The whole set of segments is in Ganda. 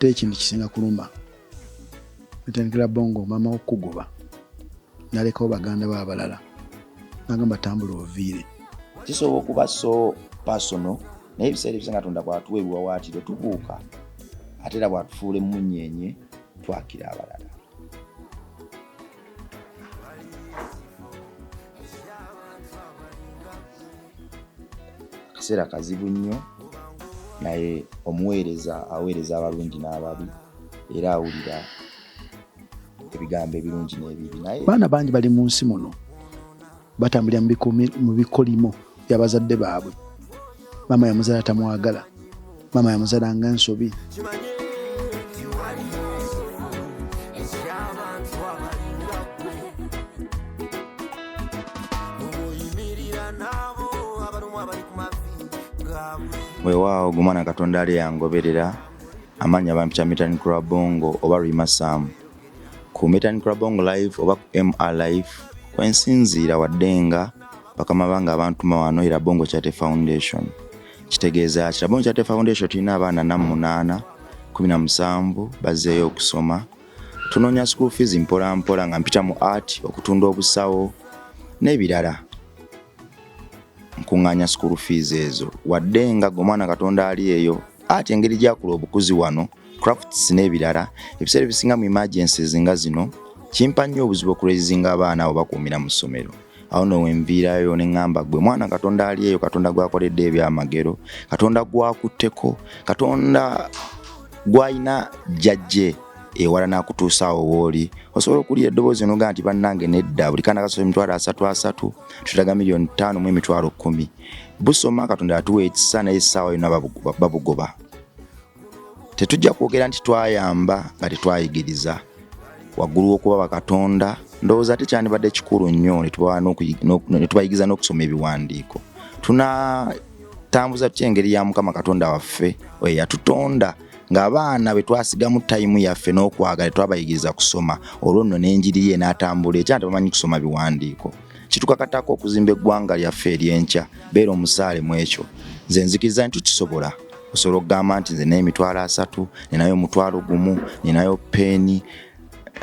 ate ekintu kisinga kuluma natandikira bongo mama okugoba nalekawo baganda ba abalala nagamba tambula oviire kisobola okuba so pasono naye ebiseera ebisa nga tonda bwatuwa ebiwawaatiro tubuuka ate era bwatufuula emmunyeenye twakira abalala akaseera kazibu nnyo naye omuweereza aweereza abalungi n'ababi era awulira ebigambo ebirungi n'ebibi naye baana bangi bali mu nsi muno batambulira mu bikolimo bya bazadde baabwe maama yamuzala tamwagala maama yamuzala nga ensobi wewaawo gumwana katonda ali yangoberera amanya bampita mitani kurabongo oba rwimasaamu ku Metanikula Bongo Live oba ku MR Live kwensinziira wadde nga bakama bange abantuma wano era Bongo Charity Foundation. Kitegeeza ki? Bongo Charity Foundation tulina abaana na munaana kumi na musanvu bazzeeyo okusoma. Tunoonya school fees mpola mpola nga mpita mu art, okutunda obusawo n'ebirala. Nkuŋŋaanya school fees ezo wadde nga gwe omwana Katonda ali eyo art engeri gy'akula obukuzi wano. crafts n'ebirala ebiseera ebisinga mu emergencies nga zino kimpa nnyo obuzibu okurezinga abaana abo bakuumira mu ssomero awo no wenviirayo ne ŋŋamba gwe mwana katonda ali eyo katonda gwakoledde ebyamagero katonda gwakutteko katonda gwalina jjajje ewala nakutuusaawo wooli osobola okuwulira eddoboozi noga nti bannange nedda buli kaana kasobola emitwalo asatu asatu tutaga miliyoni ttaano mu emitwalo kkumi busoma katonda yatuwa ekisa naye essaawa yona babugoba tetujja kwogera nti twayamba nga tetwayigiriza waggulu w'okuba bakatonda ndowooza tekyandibadde kikulu nnyo netubayigiriza n'okusoma ebiwandiiko tunatambuza tutya engeri ya mukama katonda waffe oyo yatutonda ng'abaana bwe twasigamu tayimu yaffe n'okwagala twabayigiriza kusoma olwo nno n'enjiri ye n'atambula ekya nti bamanyi kusoma biwandiiko kitukakatako okuzimba eggwanga lyaffe ery'enkya beera omusaale mu ekyo nze nzikiriza nti tukisobola osobola okugamba nti nze naye emitwalo asatu ninayo omutwalo gumu ninayo peeni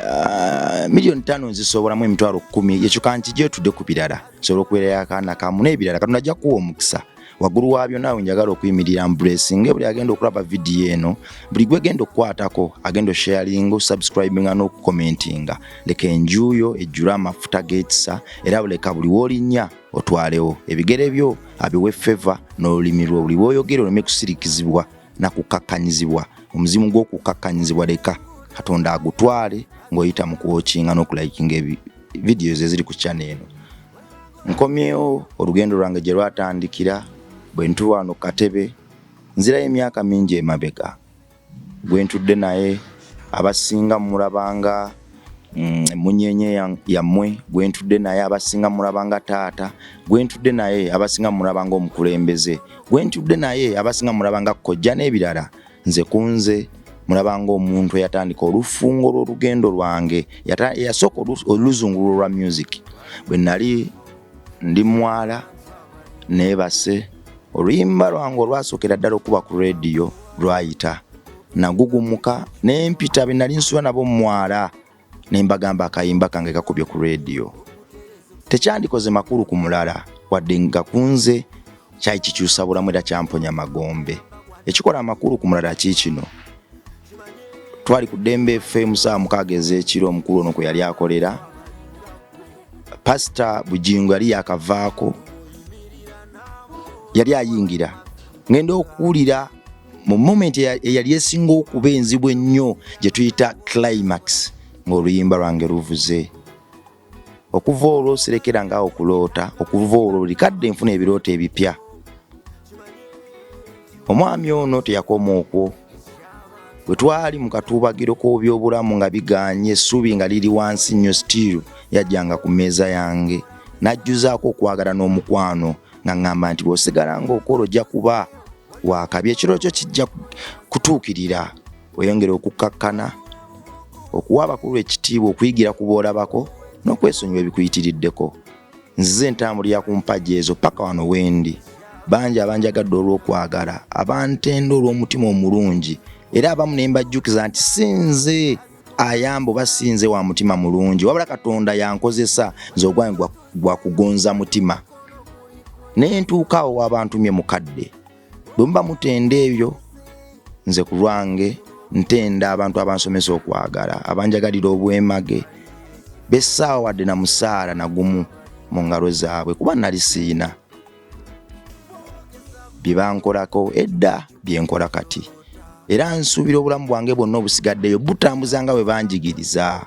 ah, miliyoni tano nzisobolamu emitwalo kumi yekyuka nti gyetudde ku birala osobola okubeerayo akaana kamu n'ebirala katonda ajja kuwa omukisa waggulu wa byonna awo njagala okuyimirira mbulesinga ebuli agenda okulaba vidiyo eno buli gwegenda okukwatako agenda osharinga osubscribinga n'okukomentinga leka enjuuyo ejjule amafuta g'ekisa era buleka buli w'olinnya otwalewo ebigere byo abiwe feva n'olulimi lwo buli lwoyogera oleme kusirikizibwa na kukkakkanyizibwa omuzimu gw'okukkakkanyizibwa leka katonda agutwale ng'oyita mu kuwokinga n'okulayikinga vidiyo ze ziri ku kyana eno nkomyewo olugendo lwange gye lwatandikira bwe ntuwaano katebe nzirayo emyaka mingi emabega Gwentudde naye abasinga murabanga emunyenye mm, yammwe gwentudde naye abasinga murabanga taata gwentudde naye abasinga murabanga omukulembeze gwentudde naye abasinga murabanga kojja n'ebirala nze kunze murabanga omuntu eyatandika olufungo lw'olugendo lwange yasooka oluzungulwo lwa music bwe nali ndi mwala nebase oluyimba lwange olwasokera ddala okuba ku rediyo lwayita nagugumuka nempita benali nsula nabo mumwala nembagamba akayimba kange kakubye ku rediyo tekyandikoze makulu ku mulala wadde nga kunze kyali kikyusa bulamu era kyamponya magombe ekikola amakulu ku mulala ki kino twali ku ddembe ffe musaawa mukaaga ez'ekiro omukulu ono kwe yali akolera pasita bugingo yali yakavaako yali ayingira ngenda okuwulira mu moment eyali esinga okuba enzibu ennyo gye tuyita climax ng'oluyimba lwange luvuze okuva olwo sirekera nga okuloota okuva olwo buli kadde nfuna ebirooto ebipya omwami ono teyakoma okwo bwe twali mu katuubagiro k'obyobulamu nga biganye essuubi nga liri wansi nnyo sitiiru yajjanga ku mmeeza yange n'ajjuzaako okwagala n'omukwano nga ŋŋamba nti bw'osigala ng'okola ojja kuba waakabi ekiro kyo kijja kutuukirira weyongere okukkakkana okuwa abakulu ekitiibwa okuyigira ku boolabako n'okwesonyiwa ebikuyitiriddeko nzize ntambulira ku mpagi ezo paka wano wendi bangi abanjagadde olw'okwagala abantenda olw'omutima omulungi era abamu ne mbajjukiza nti sinze ayamba oba sinze wa mutima mulungi wabula katonda yankozesa nze ogwange gwa kugonza mutima ne ntuukaawo w'abantumye mukadde bwe muba mutenda ebyo nze ku lwange ntenda abantu abansomesa okwagala abanjagalira obwemage bessaawa wadde na musaala nagumu mu ngalo zaabwe kuba nali siina bye bankolako edda bye nkola kati era nsuubira obulamu bwange bwonna obusigaddeyo butambuza nga bwe banjigiriza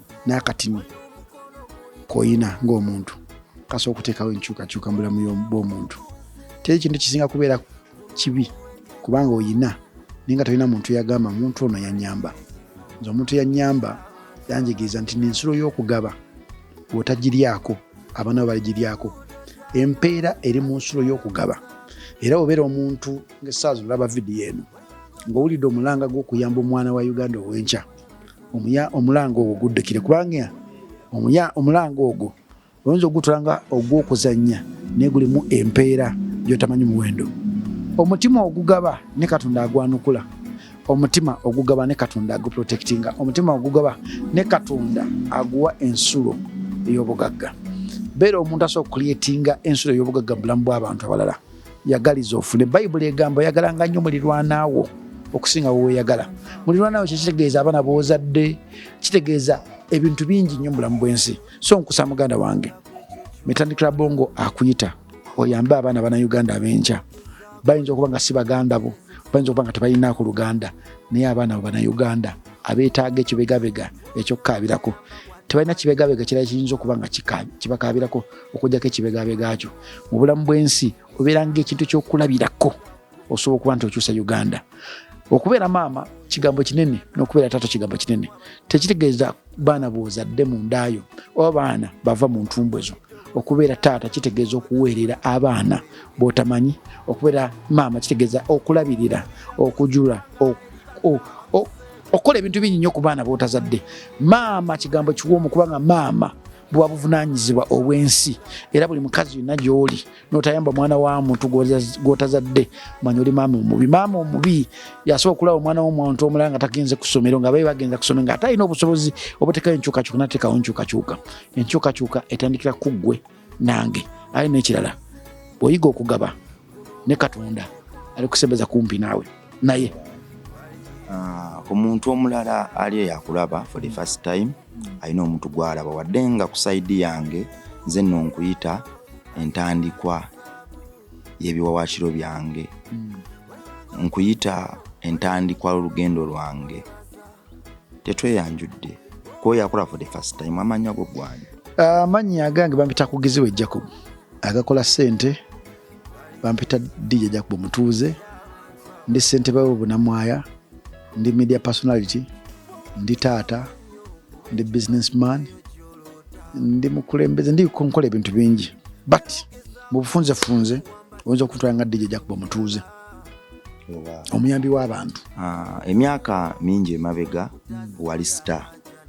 n'akatini koyina ng'omuntu kasa okuteekawo enkyukakyuka mu bulamu bw'omuntu teri kintu kisinga kubeera kibi kubanga oyina naye nga tolina muntu yagamba muntu ono yanyamba nze omuntu yanyamba yanjigiriza nti nensulo y'okugaba bwotagiryako abaana bo baligiryako empeera eri mu nsulo y'okugaba era obeera omuntu ngaesaazi olaba vidiyo eno ng'owulidde omulanga gw'okuyamba omwana wa uganda ow'enkya omuya omulanga ogwo guddukire kubanga omuya omulanga ogwo oyinza ogutula nga ogw'okuzannya naye gulimu empeera gyotamanyi muwendo omutima ogugaba ne katonda agwanukula omutima ogugaba ne katonda aguprotectinga omutima ogugaba ne katonda aguwa ensulo ey'obugagga beera omuntu asobola okukulietinga ensulo ey'obugagga mu bulamu bw'abantu abalala yagaliza ofune bayibuli egamba oyagalanga nnyo mulirwanaawo okusinga weweyagala mulirwanaawo kyekitegeeza abaana bwozadde kitegeeza ebintu bingi nnyo mubulamu bwensi so nkusa muganda wange mitandikira bongo akuyita oyambe abaana bana uganda abenkya bayinza okuba nga si baganda bo bayinza okuba nga tebalina ku luganda naye abaana bo bana uganda abeetaaga ekibegabega ekyokukaabirako tebalina kibegabega kirala kiyinza okuba nga kibakaabirako okujjako ekibegabega kyo mu bulamu bw'ensi obeeranga ekintu ky'okulabirako osobola okuba nti okyusa uganda okubeera maama kigambo kinene n'okubeera taata kigambo kinene tekitegeeza baana bwozadde mu ndaayo oba baana bava mu ntumbwe zo okubeera taata kitegeeza okuweerera abaana botamanyi okubeera maama kitegeeza okulabirira okujula okukola ebintu bingi nnyo ku baana botazadde maama kigambo kiwoomu kubanga maama buba buvunaanyizibwa obw'ensi era buli mukazi yonna gy'oli n'otayamba mwana wa muntu gw'otazadde manya oli maama omubi maama omubi yasobola okulaba omwana w'omuntu omulala nga tagenze ku ssomero nga babe bagenza ku ssomero nga ate alina obusobozi obutekayo enkyukakyuka nateekawo enkyukakyuka enkyukakyuka etandikira ku ggwe nange aye n'ekirala oyiga okugaba ne katonda ali kusembeza kumpi naawe naye ah, ku muntu omulala ali eyo akulaba for the first time alina omuntu gwalaba wadde nga ku saidi yange nze nno nkuyita entandikwa y'ebiwawakiro byange hmm. nkuyita entandikwa lolugendo lwange tetweyanjudde kwoyo akola for the first time amanyi ago gwani amanyi agange bampita kugiziwe jacob agakola sente bampita dija jacob omutuuze ndi sente bawe bunamwaya ndi media personality ndi taata ndi business man ndi mukulembeze ndi konkola ebintu bingi but mubufunze funze oyinza okutwala nga dija jacob omutuuze omuyambi w'abantu ah, emyaka mingi emabega wali sita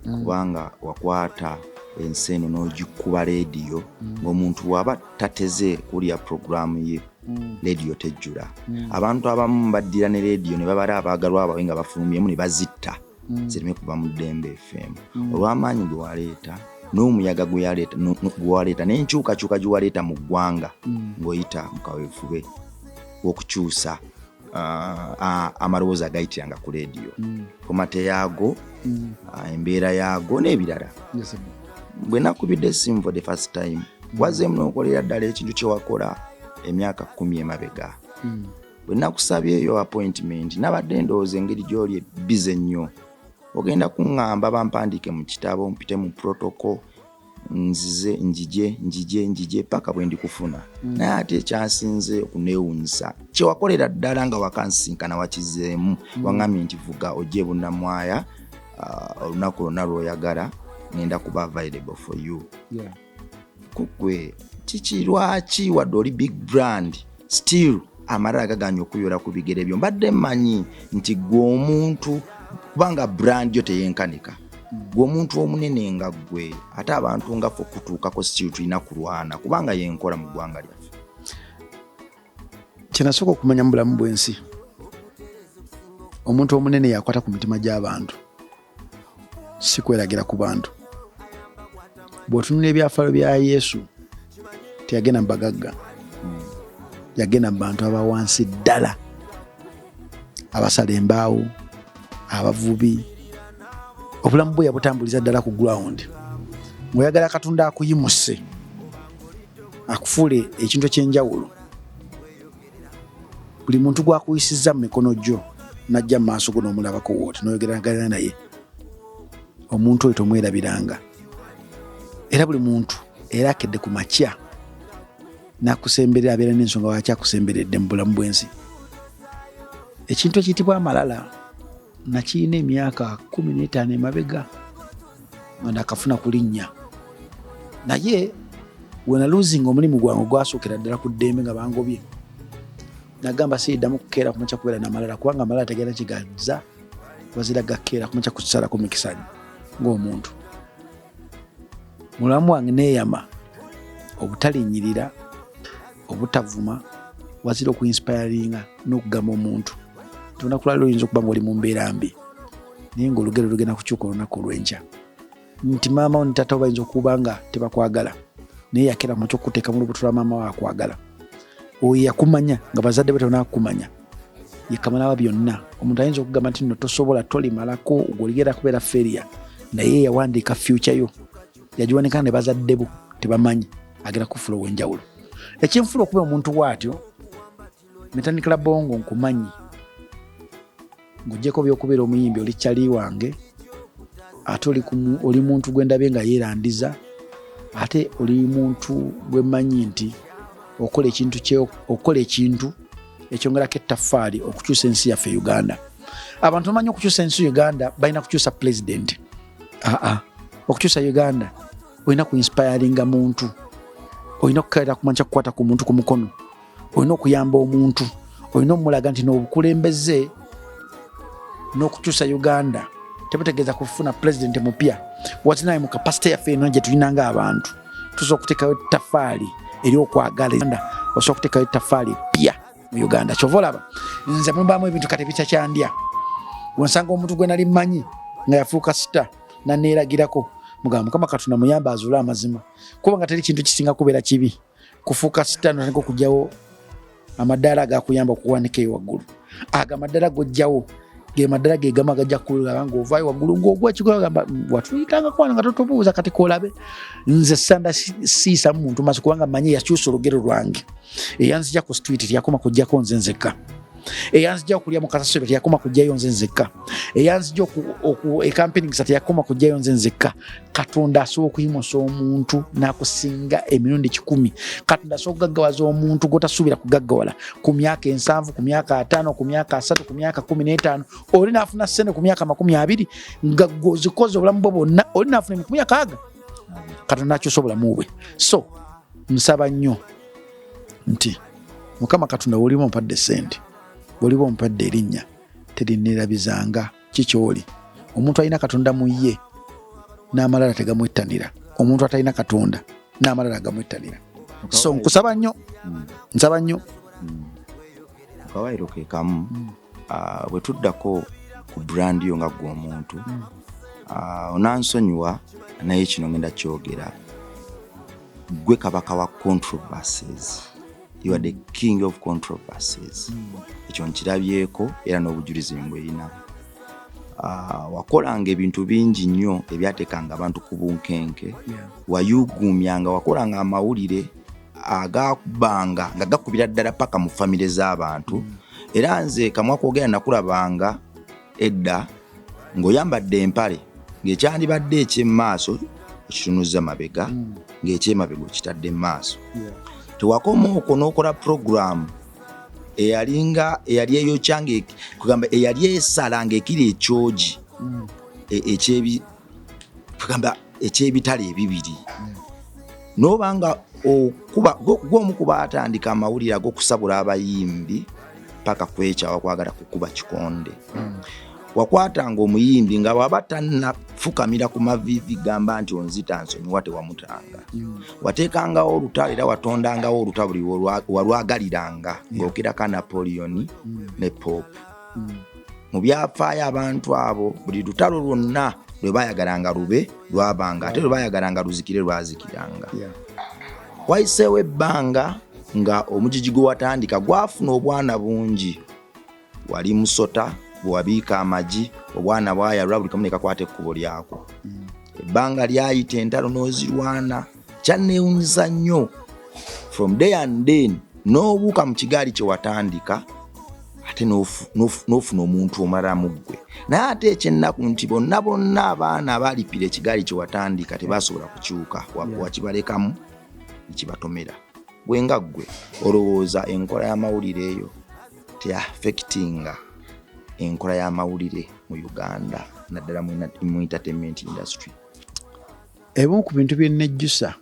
mm. kubanga wakwata ensi eno n'ogikuba leediyo mm. ng'omuntu bw'aba tateze kuwulira puroguraamu ye mm. leediyo tejjula abantu abamu baddira ne leediyo ne babala abaagalwa bawe nga bafulumyemu ne bazitta mm. zireme kuva mu ddembe efeemu mm. olw'amaanyi ge waleeta n'omuyaga gwewaleeta n'enkyukakyuka gye waleeta mu ggwanga mm. ng'oyita mu kaweefube w'okukyusa uh, amalowoozi agayitiranga ku leediyo komate yaago uh, embeera yaago n'ebirala bwe nakubidde esimu for the first time wazeemu n'okolera ddala ekintu kye wakola emyaka kumi emabega bwe nakusabyeyo appointment nabadde ndowooza engeri gy'oli bize nnyo ogenda kuŋŋamba bampandiike mu kitabo mpite mu protoko nzize njije njije njije paka bwe ndikufuna mm. naye ate ekyasinze okuneewunyisa kyewakolera ddala nga wakansinkana wakizeemu mm. waŋŋambye nti vuga ojja ebunnamwaya uh, olunaku lwonna lw'oyagala ngenda kuba available for you yeah. kugwe kiki lwaki wadde oli big brand still amalala gaganye okuyola ku bigere byo mbadde manyi nti gwe omuntu kubanga brand yo teyenkanika gwe omuntu omunene nga gwe ate abantu nga fe okutuukako still tulina kulwana kubanga yenkola mu ggwanga lyaffe kyenasooka okumanya mu bulamu bwensi omuntu omunene yakwata ku mitima gy'abantu si kweragira ku bantu. Bw'otunula ebyafaayo bya Yesu, teyagenda mu bagagga, yagenda mu bantu aba wansi ddala, abasala embaawo, abavubi. Obulamu bwe yabutambuliza ddala ku ground. Ng'oyagala Katonda akuyimuse, akufuule ekintu eky'enjawulo, buli muntu gwakuyisizza mu mikono gyo najja mu maaso go n'omulabako wooti noyogeragana naye omuntu oyo tomwerabiranga era buli muntu era akedde ku makya nakusemberera abeera n'ensonga waki akusemberedde mu bulamu bwensi ekintu ekiyitibwa amalala nakirina emyaka kumi n'etaano emabega nga nakafuna kulinnya naye wenaluzinga omulimu gwange ogwasookera ddala ku ddembe nga bangobye nagamba siiddamu kukeera kumakya kubeera namalala kubanga amalala tegenda kigaza wazira gakeera kumakya kusalako mikisanyo ng'omuntu mulamu wange neeyama obutalinyirira obutavuma wazira okuinspiringa n'okugamba omuntu nti olunaku lwaliro oyinza okuba nga oli mu mbeera mbi naye ngaolugero lugenda kukyuka olunaku olwenkya nti maama wo nitata wo bayinza okuba nga tebakwagala naye yakera mu kyokuteeka mu lubuto lwa maama wo akwagala oyo yakumanya nga bazadde be tonakukumanya yekamalaba byonna omuntu ayinza okugamba nti no tosobola tolimalako goligera kubeera feria naye yawandiika fyuca yo yagiwanika ne bazadde bo tebamanyi agenda kufula ow'enjawulo ekinfula okuba omuntu waatyo netandikira bongo nkumanyi ng'ogyeko byokubeera omuyimbi oli kyali wange ate oli muntu gwe ndabye nga yeerandiza ate oli muntu gwe mmanyi nti okola ekintu okukola ekintu ekyongerako ettaffaali okukyusa ensi yaffe uganda abantu bamanyi okukyusa ensi uganda balina kukyusa pulezidenti aa ah, ah. okukyusa uganda olina ku inspiringa muntu olina okukalira kumanya kyakukwata ku muntu ku mukono olina okuyamba omuntu olina omulaga nti nobukulembeze nokukyusa uganda tebutegeeza kufuna pulezidenti mupya watinaye mu kapasite yaffe eno gyetulina nga abantu tusobola okutekayo tafaali eri okwagala osobola okutekayo tafaali pya mu uganda kyova olaba nze mubamu ebintu kati bikyakyandya wensanga omuntu gwe nali mmanyi nga yafuuka sita naneeragirako mugamba mukama katonda muyamba azuule amazima kuba nga teri kintu kisinga kubeera kibi kufuuka sita notandika okugyawo amadaala agakuyamba okuwanika eyo waggulu ago amadaala gojjawo ge maddala ge gamu agajja kukulaba ng'ovaayo waggulu ng'ogwa kikola gamba mm, watuyitanga kwana nga totubuuza kati kolabe nze sanda siisa mu muntu maso kubanga manyi yakyusa olugero lwange eyanzija ku street teyakoma kujjako nze nzekka eyanzija okulya mu kasasiro teyakoma kujjayo nze nzekka eyanzija ekampiningisa teyakoma kujjayo nze nzekka katonda asobola okuyimusa omuntu nakusinga emirundi kikumi katonda asobola okugaggawaza omuntu gwotasuubira kugaggawala ku myaka ensanvu ku myaka ataano ku myaka asatu ku myaka kumi n'etaano oli naafuna sente ku myaka makumi abiri nga gwozikoze obulamu bwe bwonna oli naafuna emikumi akaaga katonda akyusa obulamu bwe so nsaba nnyo nti mukama katonda woliba ompadde sente woliba ompadde erinnya terinnerabizanga kikyoli omuntu alina katonda mu ye n'amalala tegamwettanira omuntu atalina katonda n'amalala agamwettanira so nkusaba nnyo hmm. nsaba nnyo hmm. akawaayiro ke kamu hmm. ah, bwe tuddako ku brandi yo nga ggwe omuntu ah, onansonyiwa naye kino ngenda kyogera gwe kabaka wa controversies you are the king of controversies hmm. ekyo nkirabyeko era n'obujulizi mbweyina ah, wakolanga ebintu bingi nnyo ebyateekanga abantu ku bunkenke wayuguumyanga wakolanga amawulire agakubanga nga gakubira ddala paka mu famire z'abantu hmm. era nze kamwakwogera nakulabanga edda ng'oyambadde empale ng'ekyandibadde eky'emaaso okitunuzza mabega hmm. ng'ekyemabega okitadde mu maaso tewakoma okwo n'okola puroguramu eyalinga eyali eyokya kugamba eyali esala ng'ekiri ekyogi hmm. e, tugamba ekyebitala ebibiri hmm. noba nga okuba gwomu kuba atandika amawulire agokusabula abayimbi paka kwekyawa kwagala kukuba kikonde hmm. wakwatanga omuyimbi nga waba tanafukamira ku mavivi gamba nti onzita nsonyiwa tewamutanga hmm. watekangawo olutalo era watondangawo olutabuli walwagaliranga ngaokiraka napoleoni ne pope mu byafaayo abantu abo buli lutalo lwonna lwe bayagalanga lube lwabanga ate lwe bayagalanga luzikire lwazikiranga wayiseewo ebbanga nga omujiji gwe watandika gwafuna obwana bungi wali musota bwewabiika amagi obwana bwayalwa buli kamu nekakwata ekkubo lyako mm. ebbanga lyayita entalo n'ozirwana kyanneewunyiza nnyo from day and then n'obuuka mu kigaali kye watandika ate n'ofuna omuntu omala mu ggwe naye ate ekyennaku nti bonna bonna abaana abaalipira ekigaali kye watandika tebaasobola kukyuka wakibalekamu ekibatomera gwe nga ggwe olowooza enkola y'amawulire eyo teafekitinga enkola y'amawulire mu uganda naddala mu entertainment industry Ebimu ku bintu bye nnejjusa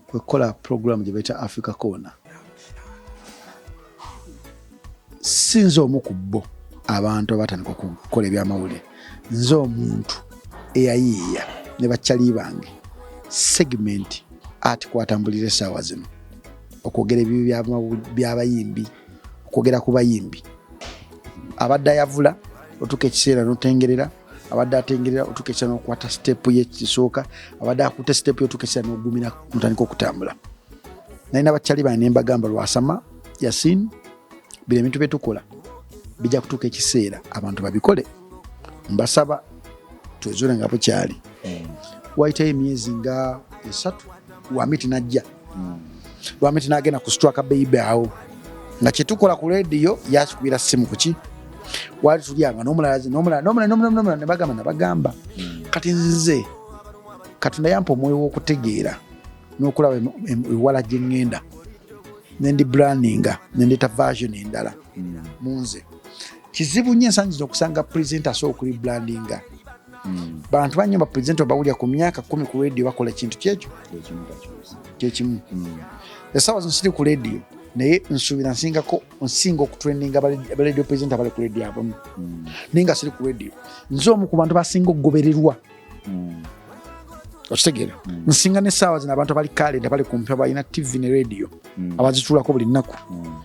kwe kukola pulogulaamu gye bayita Africa Corner. Si nze omu ku bo abantu abatandika okukola ebyamawulire, nze omuntu eyayiiya ne bakyali bange segimenti ati kwatambulira essaawa zino okwogera ebibi by'abayimbi okwogera ku bayimbi abadde ayavula otuuka ekiseera notengerera abadde atengerera otukesa nokukwata sitepu yekisooka abadde akuta sitepu yotukesa nogumira kutandika okutambula naye nabakyali bane nembagamba lwasama yasin bino ebintu byetukola bijja kutuuka ekiseera abantu babikole mbasaba twezule nga bukyali hmm. wayitayo emyezi nga esatu wamiti najja hmm. lwamiti nagenda ku straka beibe awo nga kyetukola ku rediyo yakikubira simu kuki wali tulyanga nomulala nebagamba nabagamba hmm. kati nze katonda yampa omwoyo wokutegeera nokulaba ewala gyengenda nendi brandinga nendeta version endala hmm. munze kizibu nyo ensangi zino okusanga present asobola okuli brandinga mm. bantu banyo bapresent obawulira ku myaka kumi ku radio bakola ekintu kyekyo kyekimu mm. esawa zino siri ku radio naye nsuubira nsingako nsinga okutrendinga abaradio president abali ku radio abamu mm. naye nga siri ku radio nze omu ku bantu basinga okugobererwa mm. okitegeera mm. nsinga nesaawa zino abantu abali kalenda bali kumpi abalina tv ne radio mm. abazitulako buli nnaku mm.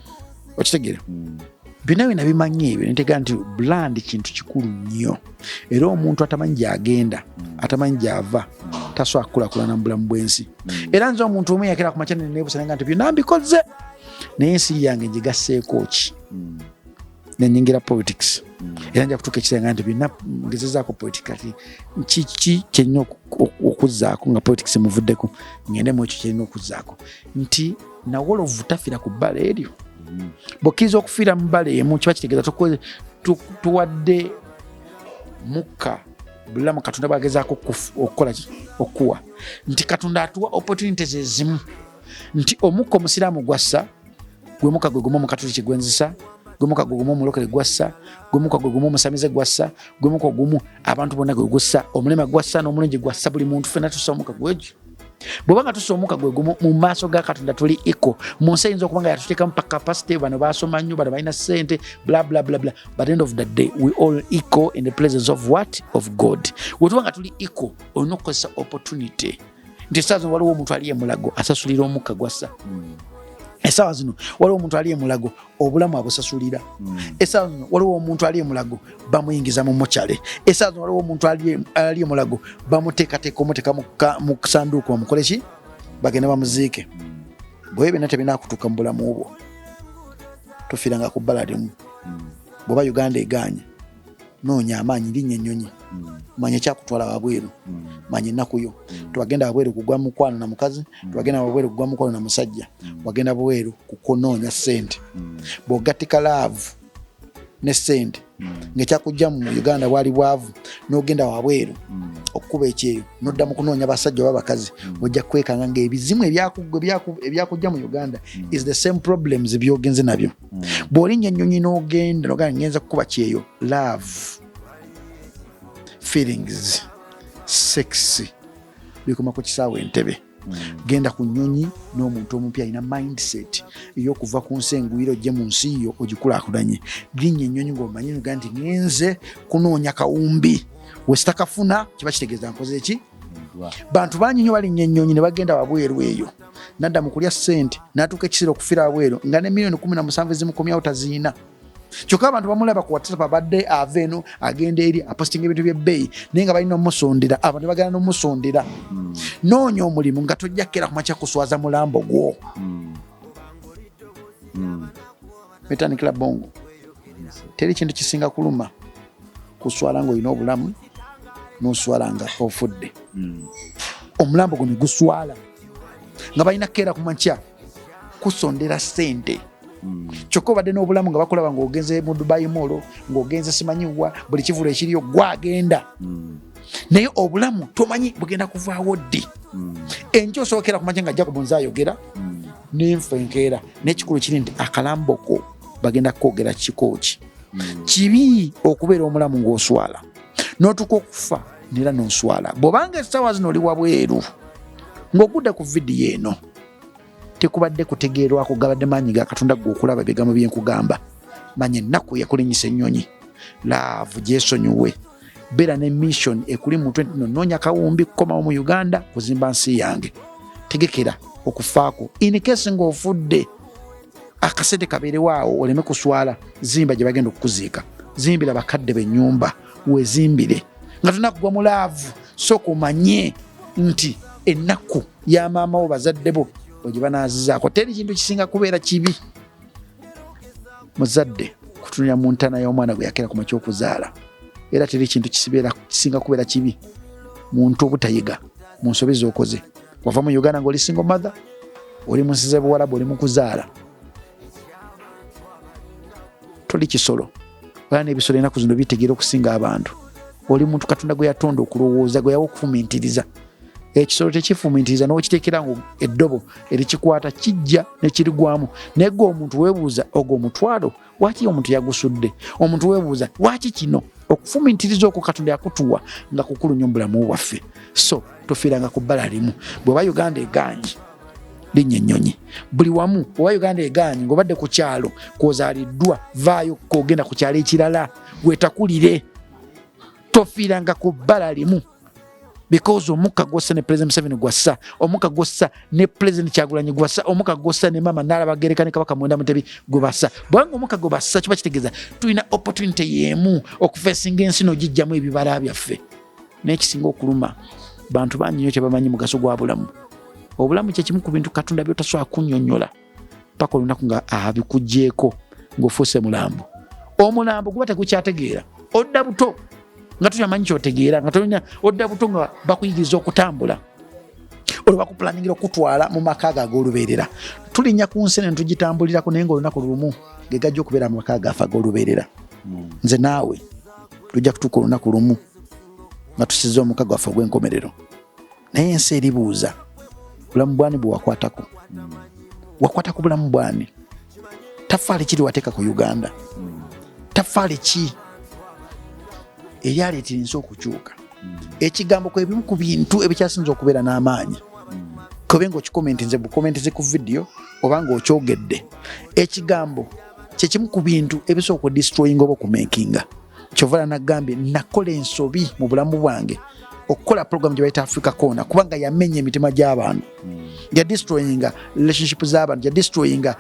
okitegeera mm. byonna byona bimanyi ebyo nitega nti bland kintu kikulu nnyo era omuntu atamanyi gyagenda mm. atamanyi gyava mm. tasobola kukulakulana mu bulamu bwensi mm. era nze omuntu omu eyakera ku makyanene nebusananga nti byonna mbikoze naye ensi yange ngigasseeko ki nenyingira politics era nja kutuuka ekisenga nti byonna ngezezaako politics kati kiki kyenina okuzzaako nga politics muvuddeko ngendemu ekyo kyerina okuzzaako nti nawolovu tafira ku bbala eryo mm. bwokiriza okufiira mu bbala emu kiba kitegeeza tuwadde mukka bulamu katonda bwagezaako okukola okuwa nti katonda atuwa opportunity zezimu nti omukka omusiraamu gwassa gwe muka gwe gumu omukatuliki gwenzisa gwe muka gwe gumu omulokole gwassa gwe muka gwe gumu omusamize gwassa gwe muka gumu abantu bonna gwe gussa omulema gwassa n'omulungi gwassa buli muntu fena tusa omuka gwegyo bweba nga tusa omuka gwe gumu mu maaso ga katonda tuli iko mu nsi eyinza okuba nga yatuteekamu pa capacity bano basoma nnyo bano balina sente blablablabla but end of the day we all iko in the places of what of god wetuba nga tuli iko olina okukozesa opportunity nti esaa zino waliwo omuntu ali emulago asasulira omukka gwassa hmm. esawa zino waliwo omuntu ali emulago obulamu abusasulira hmm. esaa zino waliwo omuntu ali emulago bamuyingiza mu mucale esaa zino waliwo omuntu ali emulago bamuteekateeka omuteeka mu sanduuku omukole ki bagende bamuziike hmm. bwebyo byonna tebinakutuuka mu bulamu bwo tufiranga ku bbala limu hmm. bweoba uganda egaanye noonya amaanyi linnya ennyonyi hmm. manya ekyakutwala wabweru hmm. manya ennaku yo hmm. tewagenda wabweru kugwa mukwano na mukazi tewagenda wabweru kugwa mukwano na musajja wagenda bweru kukunoonya sente bwogattika laavu ne sente ngaekyakujja mu uganda bwali bwavu nogenda wabweru okukuba ekyeyo nodda mu kunoonya basajja oba bakazi ojja kwekanga ngaebizimu ebyakujja mu uganda is the same problems byogenze nabyo bw'olinnya ennyonyi n'ogenda nogaa ngenza kukuba kyeyo love feelings sex bikoma ku kisaawe entebe hmm. genda ku nyonyi n'omuntu omupi alina mindset eyokuva ku nsi engwira ojje mu nsi yo ogikulakulanye linya enyonyi ngaomanyi ga nti ngenze kunoonya kawumbi wesitakafuna kiba kitegeeza nkoze ki bantu bangi nyo balinnya ennyonyi ne bagenda wabweru eyo nadda mu kulya ssente n'atuuka ekiseera okufira wabweru nga ne miliyoni kumi na musanvu ezimukomyawo taziina kyokka abantu bamulaba ku whatsapp abadde ava eno agenda eri apostinga ebintu byebbeeyi naye nga balina omusundira abantu bagenda nomusundira hmm. noonya omulimu nga tojja kukera kumakya kuswaza mulambo gwo hmm. Hmm. metanikila bongo teri kintu kisinga kuluma kuswala ngaolina obulamu noswala nga ofudde hmm. omulambo guno guswala nga balina keera kumakya kusondera sente hmm. kyokka obadde n'obulamu nga bakulaba ngaogenze mu dubai molo ngaogenze simanyiwa buli kivulu ekiriyo gwagenda hmm. naye obulamu tomanyi bugenda kuvaawo ddi enky osookera kumakya nga ajja ku bunzi ayogera nenfa enkeera nekikulu kiri nti akalamboko bagenda kukogera kikooki hmm. kibi okubeera omulamu ngaoswala notuka okufa nera noswala bwobanga esawa zino oli wabweru ngaogudde ku vidiyo eno tekubadde kutegeerwako gabadde maanyi ga katonda gwe okulaba ebigambo byenkugamba manya ennaku yakulinyisa ennyonyi laavu gyesonyiwe beera ne mission ekuli mutwe ntino noonya kawumbi kukomawo mu uganda kuzimba nsi yange tegekera okufaako inkesi ngaofudde akasente kabeerewo awo oleme kuswala zimba gye bagenda okukuziika zimbira bakadde benyumba wezimbire nga tonakugwa mu laavu soka omanye nti ennaku ya maama wo bazadde bo ogye banaazizaako teri kintu kisinga kubeera kibi muzadde kutunira mu ntana y'omwana gwe yakera ku makya okuzaala era teri kintu kisinga kubeera kibi muntu obutayiga mu nsobi z'okoze wava mu uganda ngaoli single mother oli munsize buwalabu oli mukuzaala toli kisolo era n'ebisolo enaku zino bitegeera okusinga abantu oli muntu katonda gwe yatonda okulowooza gwe yawa okufumintiriza ekisolo tekifumitiriza n'okiteekera nga eddobo erikikwata kijja nekirigwamu naye gwe omuntu weebuuza ogwo omutwalo waaki omuntu yagusudde omuntu weebuuza waaki kino okufumitiriza okwo katonda yakutuwa nga kukulu nyo mubulamu bwaffe so tufiiranga ku bbala limu bweba uganda egaanyi linnya ennyonyi buli wamu oba uganda egaanyi ngaobadde ku kyalo kwozaaliddwa vaayo kogenda ku kyalo ekirala gwetakulire tofiiranga ku bbala limu because omukka gwossa ne president museveni gwassa omukka gwossa ne president kyagulanyi gwassa omukka gwossa ne maama naalabagereka ne kabaka mwenda mutebi gwebassa bwanga omukka gwe bassa kiba kitegeeza tulina opportunity yemu okufesinga ensi nogijjamu ebibala byaffe naye kisinga okuluma bantu bangi nyo kyebamanyi mugaso gwa bulamu obulamu kyekimu ku bintu katonda byotasobola kunyonyola paka olunaku nga abikugyeko ngaofuuse mulambo omulambo guba tegukyategeera odda buto nga tokyamanyi kyotegeera nga tonya odda buto nga bakuyigiriza okutambula olwo bakupulaningira okutwala mu maka ago ag'olubeerera tulinnya ku nsi ne ntugitambulirako naye nga olunaku lumu ge gajja okubeera mu maka gaafe ag'olubeerera hmm. nze naawe tujja kutuuka olunaku lumu nga tusiza omuka gwaffe ogw'enkomerero naye ensi eribuuza bulamu bwani bwewakwatako hmm. wakwata ku bulamu bwani tafaali kiri wateeka ku uganda hmm. tafaali ki eryaleeta ensi okukyuka hmm. ekigambo kwebimu ku bintu ebikyasinza okubeera n'amaanyi kobe nga okikomentinze bukomentinze ku vidiyo oba nga okyogedde ekigambo kyekimu ku bintu ebisooka okudistroyinga oba okumenkinga kyovala nagambye nakola ensobi mu bulamu bwange okukola program gye bayita africa corner kubanga yamenya emitima gy'abantu hmm. ya destroyinga relationship z'abantu ya destroyinga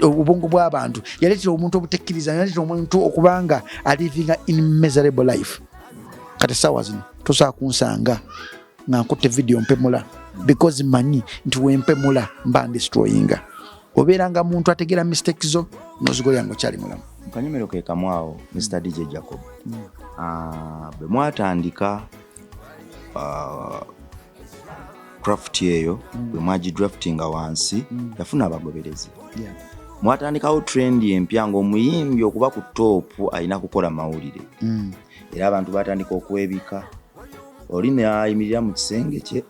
obwongo bw'abantu yaleetera omuntu obutekkiriza yaleetera omuntu okubanga alivinga in miserable life kati essaawa zino tosobola kunsanga nga nkutte vidiyo mpemula because manyi nti wempemula mba ndestroyinga obeera nga muntu ategeera mistake zo nozigolera nga okyali mulamu kanyomero ke kamu awo mr dj jacob hmm. ah, bwe mwatandika ah, craft eyo hmm. bwe mwagidraftinga wansi hmm. yafuna abagoberezi mwatandikawo trend empya ngaomuyimbi okuba ku toopu alina kukola mawulire era abantu batandika okwebika oli nayimirira mu kisenge kye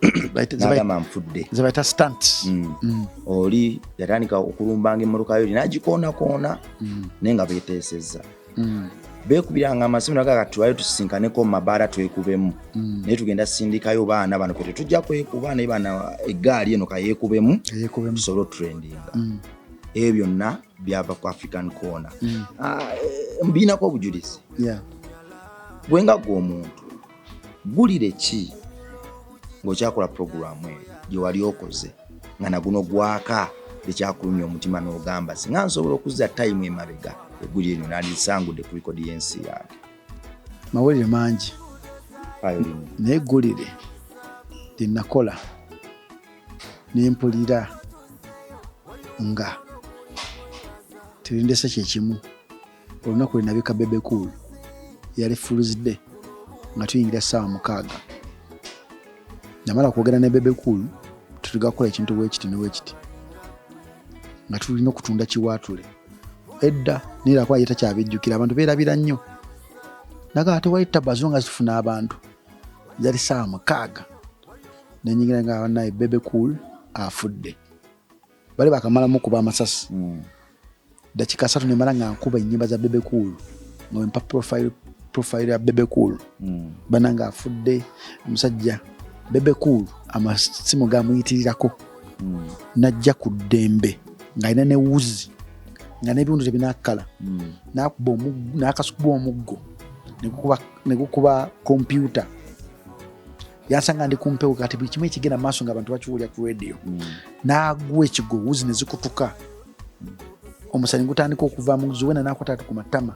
nagamba nfudde zebayita stant mm. mm. oli yatandika okulumbanga emmotoka yo linagikoonakoona mm. naye nga beteesezza mm. bekubiranga amasimu naga kati tulayo tusisinkaneko mumabaala twekubemu mm. naye tugenda sindikayo baana bano kati tujja kwekuba naye bana egaali eno kayekubemu tusobole trendinga mm. ebyo byonna byava ku african corner mm. ah, eh, mbiinako obujulizi yeah. gwenga gwe omuntu ggulire ki ng'okyakola pulogulaamu eyo gye wali okoze nga naguno gwaka ekyakulumya omutima n'ogamba singa nsobola okuzza tayimu emabega egguli eryo nandisangudde ku likodi y'ensi yange mawulire mangi naye eggulire lye nakola ne mpulira nga terindese kyekimu olunaku lwe nabika bebe cool yali fuluzide nga tuyingira saawa mukaaga namala kwogera ne bebe cool tutuga kukola ekintu bwekiti newekiti nga tulina okutunda kiwaatule edda nirakuba ye takyabijjukira abantu beerabira nnyo naga ate wali tabazo nga zifuna abantu yali saawa mukaaga nenyingira nga banaye bebe cool afudde bali bakamala mukuba amasasi mm. dakika satu nemala nga nkuba enyimba za bebe cool nga wempa profile profile ya bebe cool mm. bana nga afudde omusajja bebe cool amasimu gamuyitirirako mm. najja ku ddembe ngaalina ne wuzi nga nebiwundu tebinakala mm. nakuba nakasukuba omuggo negukuba kompyuta yasanga ndi kumpewo kati buli kimu ekigenda maaso nga abantu bakiwulira ku radio mm. nagwa ekigo wuzi nezikutuka mm. omusanyi gutandika okuvamu zuwena nakwatatu ku matama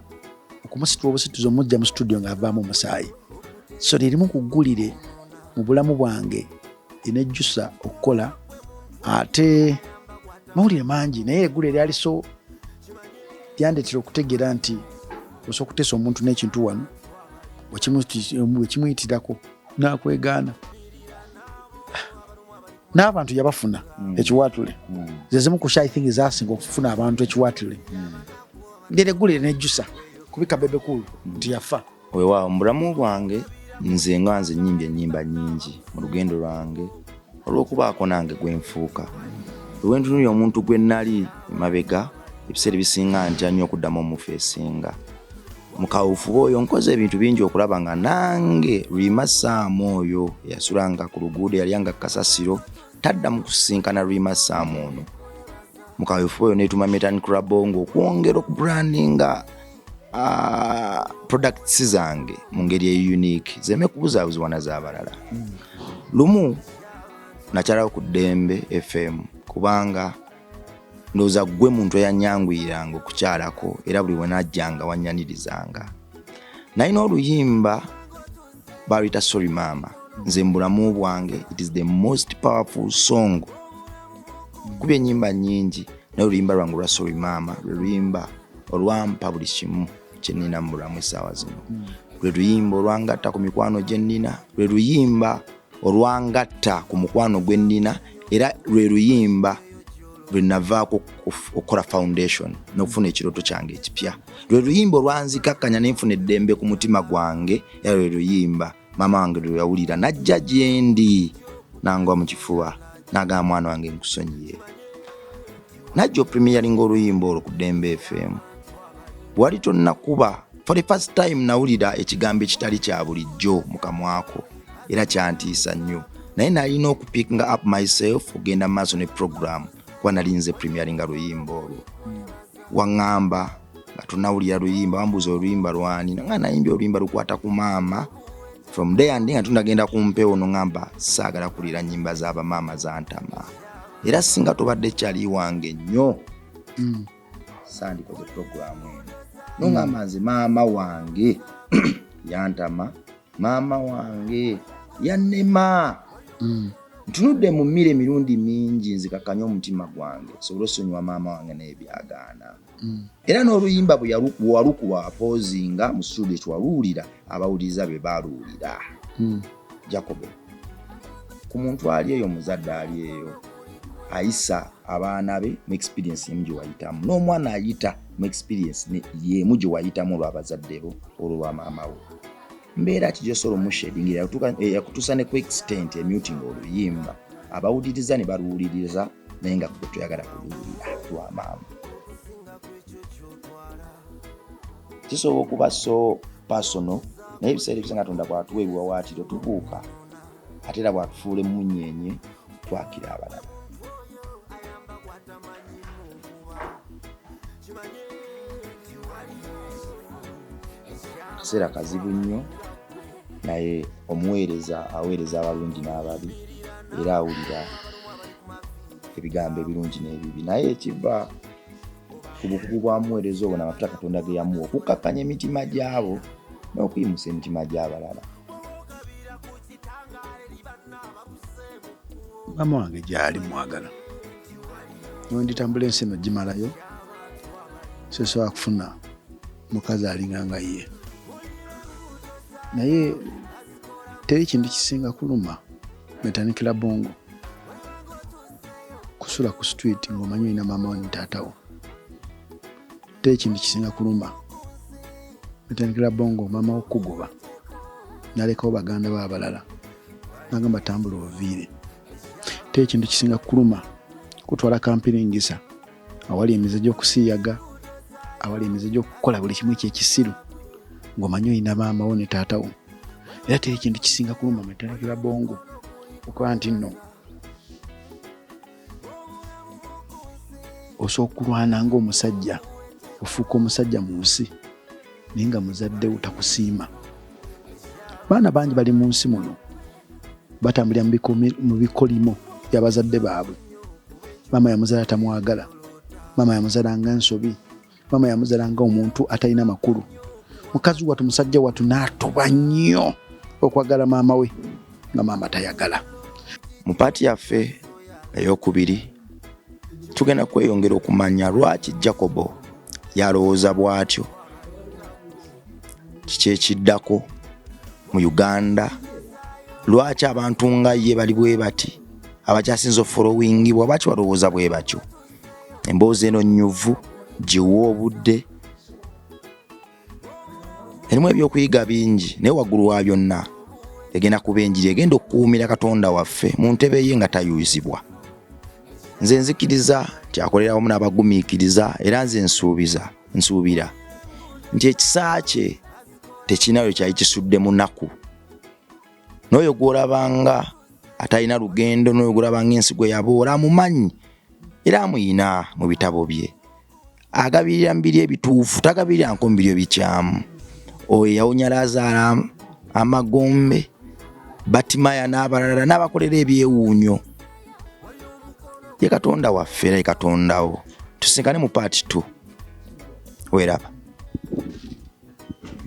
okumusitula obusituzi omujja mu situdio ngaavaamu omusaayi so lyerimu kugulire mu bulamu bwange enejjusa okukola ate mawulire mangi naye egula eryali so lyandetera okutegeera nti osobola okuteesa omuntu n'ekintu wano wekimuyitirako nakwegaana n'abantu yabafuna mm. ekiwaatule mm. zezimu ku shy thing zasinga okufuna abantu ekiwaatule mm. nderegulire nejjusa kubika bebekulu nti yafa wewaawo mubulamu bwange nze nga nze nyimbi enyimba nyingi mu lugendo lwange olwokubaako nange gwenfuuka lwentunuli omuntu gwe nali emabega ebiseera ebisinga ntya nnyo okuddamu omufu esinga mu kawuufuba oyo nkoze ebintu bingi okulaba nga nange rwima saamu oyo eyasulanga ku luguudo yalyanga kasasiro tadda mu kusisinkana rwima saamu ono mu kawuufuba oyo netuma metan crabongo okwongera okubrandinga ah, products zange mu ngeri eyo unique zeme kubuzaabuzibwa na zabalala lumu nakyalawo ku ddembe fm kubanga ndowooza ggwe muntu eyanyanguyiranga okukyalako era buli wenajjanga wanyanirizanga nalina oluyimba baluyita sorry maama nze mubulamu bwange it is the most powerful song kuba enyimba nyingi naye oluyimba lwange olwa sorry maama lwe luyimba olwampa buli kimu kyenina mubulamu esaawa zino lwe luyimba olwangatta ku mikwano gyenina lwe luyimba olwangatta ku mukwano gwe nnina era lwe luyimba lwe navaako okukola foundation n'okufuna ekirooto kyange ekipya lwe luyimba olwanzikakkanya nenfuna eddembe ku mutima gwange era lwe luyimba maama wange lwe yawulira najja gyendi nangwa mu kifuba nagamba mwana wange nkusonyiye najja opremiyalinga oluyimba olwo ku dembe fm wali tonnakuba for the first time nawulira ekigambo ekitali kya bulijjo mukamwako era kyantiisa nnyo naye nalina okupickinga up myself ogenda maaso ne program kuba nalinze premiyalinga luyimba olwo waŋŋamba nga tonawulira luyimba wambuuza oluyimba lwani nanga nayimbye oluyimba lukwata ku maama from day andi nga tundagenda ku mpewo noŋamba saagala kulira nyimba z'abamaama zantama era singa tobadde kyali wange nnyo mm. sandikoze pulogulaamu eno nongamba mm. nze maama wange yantama maama wange yanema mm. ntunudde mu mmira emirundi mingi nzikakanye omutima gwange sobole osonyiwa maama wange naye byagaana mm. era n'oluyimba bwewalukuwa apoozi nga mu studio kyewaluwulira abawuliriza be baluwulira mm. jacobe ku muntu ali eyo muzadde ali eyo ayisa abaana be mu experience emu gyewayitamu n'omwana ayita mu experience yemu gyewayitamu olwabazadde bo olwo lwa maama wo mbeera ki gyosobola omushedingira yakutuusa eh, ne ku extent emuting oluyimba abawuliriza ne baluwuliriza naye nga kuge tuyagala kubiwulira lwa maama kisobola okuba so pasono naye ebiseera ebisinga katonda bwatuwa ebiwawaatiro tubuuka ate era bwatufuula emunyenye twakira abalala kiseera kazibu nnyo naye omuweereza aweereza abalungi n'ababi era awulira ebigambo ebirungi n'ebibi naye ekiva ku bukugu bwa muweereza obwo namafuta katonda ge yamuwa okukkakkanya emitima gy'abo n'okuyimusa emitima gy'abalala maama wange gyali mwagala nonditambula ensi eno gimalayo sesobola kufuna mukazi alinga nga ye naye teri kintu kisinga kuluma netanikila bongo kusula ku street ngaomanyi olina maama wo nitaatawo teri kintu kisinga kuluma netanikila bongo maama wo kukugoba nalekawo baganda bo abalala nagamba tambula oviire te ekintu kisinga kuluma kutwala kampiringisa awali emize gyokusiyaga awali emize gyokukola buli kimu ekyekisiru ngaomanyi olina maamawo ne taatawo era te ekintu kisinga kuluma matalakira bongo okuba nti no osobola okulwana ngaomusajja ofuuka omusajja mu nsi naye nga muzaddewo takusiima baana bangi bali mu nsi muno batambulira mu bikolimo byabazadde baabwe maama yamuzala tamwagala maama yamuzala nga ensobi maama yamuzala nga omuntu atalina makulu mukazi watu musajja watu natuba nnyo okwagala maama we nga maama tayagala mu paati yaffe eyokubiri tugenda kweyongera okumanya lwaki jacobo yalowooza bwatyo kiki ekiddako mu uganda lwaki abantu nga ye bali bwe bati abakyasinza ofolowingibwa lwaki balowooza bwe batyo emboozi eno nyuvu giwa obudde erimu ebyokuyiga bingi naye waggulu wa byonna egenda kuba enjiri egenda okukuumira katonda waffe mu ntebe ye nga tayuizibwa nze nzikiriza kyakolera wamu n'abagumiikiriza era nze nsuubiza nsuubira nti ekisa kye tekirina we kyali kisudde munaku n'oyo gw'olabanga atalina lugendo n'oyo gw'olabanga ensi gwe yaboola amumanyi era amuyina mu bitabo bye agabirira mu biri ebituufu tagabirira nko mu biri ebikyamu oyo yawonya laazaala amagombe batimaya n'abalala n'abakolera ebyewuunyo ye katonda waffe era ye katondawo tusinkane mu part t weraba